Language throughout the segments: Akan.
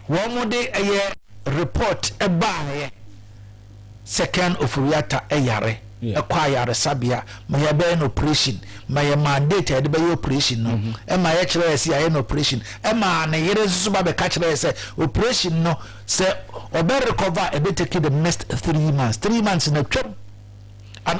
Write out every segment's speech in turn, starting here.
Wɔn de ɛyɛ report baeɛ sɛ Ken Ofori-Atta yare kɔ ayaresabea ma yɛbɛyɛ no operation ma yɛ maa date a yɛde bɛyɛ operation no mm-hmm. ma yɛkyerɛ yɛ sɛ yɛayɛ no operation ɛmaa ne yere nso ba bɛka kyerɛ yɛ sɛ operation no sɛ ɔbɛ recover ɛbɛ take the next three months three months na twam and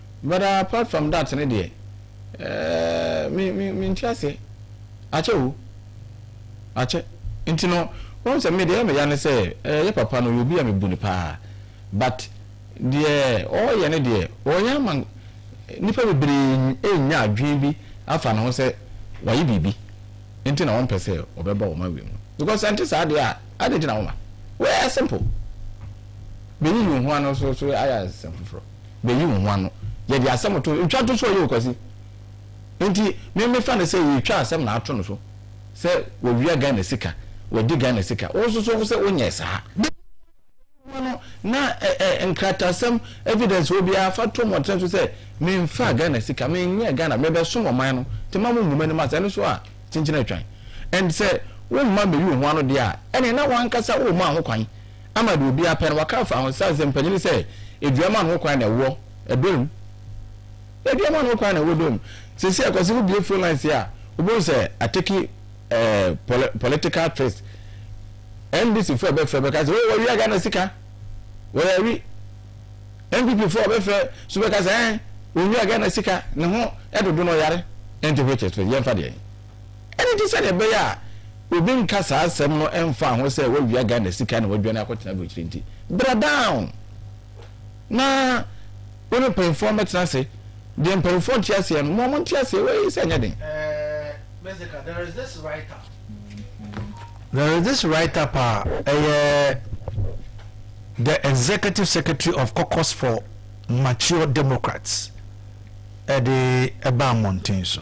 But apart from that no deɛ eh, me, me, me nte aseɛ. Akyɛ o. Akyɛ. Nti no, wohu sɛ me deɛ ɛyɛ me ya ne sɛ, eh, yɛ papa no ɔyɛ obi a me bu no paa. But, deɛ ɔɔyɛ no deɛ, ɔɔyɛ ama nnipa bebree anya adwene bi afa ne ho sɛ wayɛ biribi nti na ɔmpɛ sɛ ɔbɛba wɔn awie mu. Because sɛ nte saa deɛ a, adɛn nti na woma? Wɛɛ simple. Bɛyiyi wo ho ano so so ayɛ asɛm foforɔ. bɛyi wo ho ano. Yɛde asɛm to ntwa to so ɔyɛ o Kwasi. Nti me mefa no sɛ yɛtwa asɛm na ato no so sɛ wawia Ghana sika, wadi Ghana sika. Wo nso so wo sɛ wonyɛɛ saa. Bɛyi wo ho ano na ɛ ɛ nkratasɛm evidence wɔ biara fa to mmɔnten so sɛ memfaa Ghana sika, menyɛɛ Ghana, mebɛsom ɔman no. Nti mma mongu m'anim ase. Ɛno nso a kyenkyen atwan. And sɛ womma mmɛyi wo ho ano deɛ a ɛneɛ na wo ankasa wommaa ho kwan. Ama deɛ obiara pɛ no, wɔaka afa Ahosesa Nsɛmpani no sɛ aduam ano kwan na ɛwɔ dɔ mu. Aduam ano kwan na ɛwɔ dɔ mu. Seesei ɛkɔ sɛ wobue phone lines a, wobɛhu sɛ ateki eh, poli, political twist. NDC foɔ bɛfrɛ bɛka sɛ, oh, wɔawia Ghana sika. Wɔyɛawi. NPP foɔ bɛfrɛ so bɛka sɛ, eh, wɔnwia Ghana sika. Ne ho ɛdodo no ɔyare. Ɛnti which is which? Yɛmfa deɛ. Ɛno nti sɛdeɛ ɛbɛyɛ a obi nka saa asɛm no ɛmfaa ho sɛ wawia Ghana sika na waduane akɔtena aburokyire nti, bra down na wo ne mpanyinfoɔ mmɛtena ase. Deɛ mpanyinfoɔ nte aseɛ no, mo a monte aseɛ wei sɛ ɛnyɛ den. Mezika, there is this write up. There is this write up a ɛyɛ the executive secretary of caucus for mature democrats ɛde ɛbaa mmɔnten so.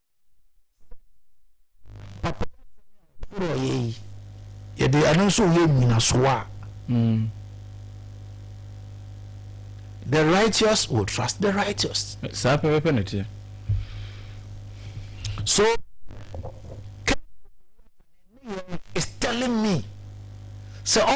Ɔyɛ yi yɛde ɛno nso yɛ nyinasoɔ a mm. the righteous will trust the righteous saa pɛpɛpɛ na ɛteɛ so is telling me sɛ so,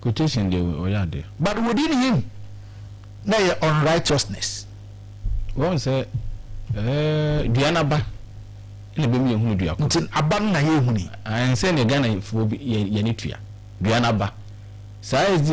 Quotation deɛ wɔ- ɔyɛ adeɛ. But within him na ɛyɛ unrighteousness. Wɔn sɛ ɛɛ dua n'aba na ebɛmu yɛ hunu dua koro. Nti aba no na yɛ huni. Ɛnsɛ ne Ghana foɔ bi yɛ yɛ ne tua dua n'aba saa SD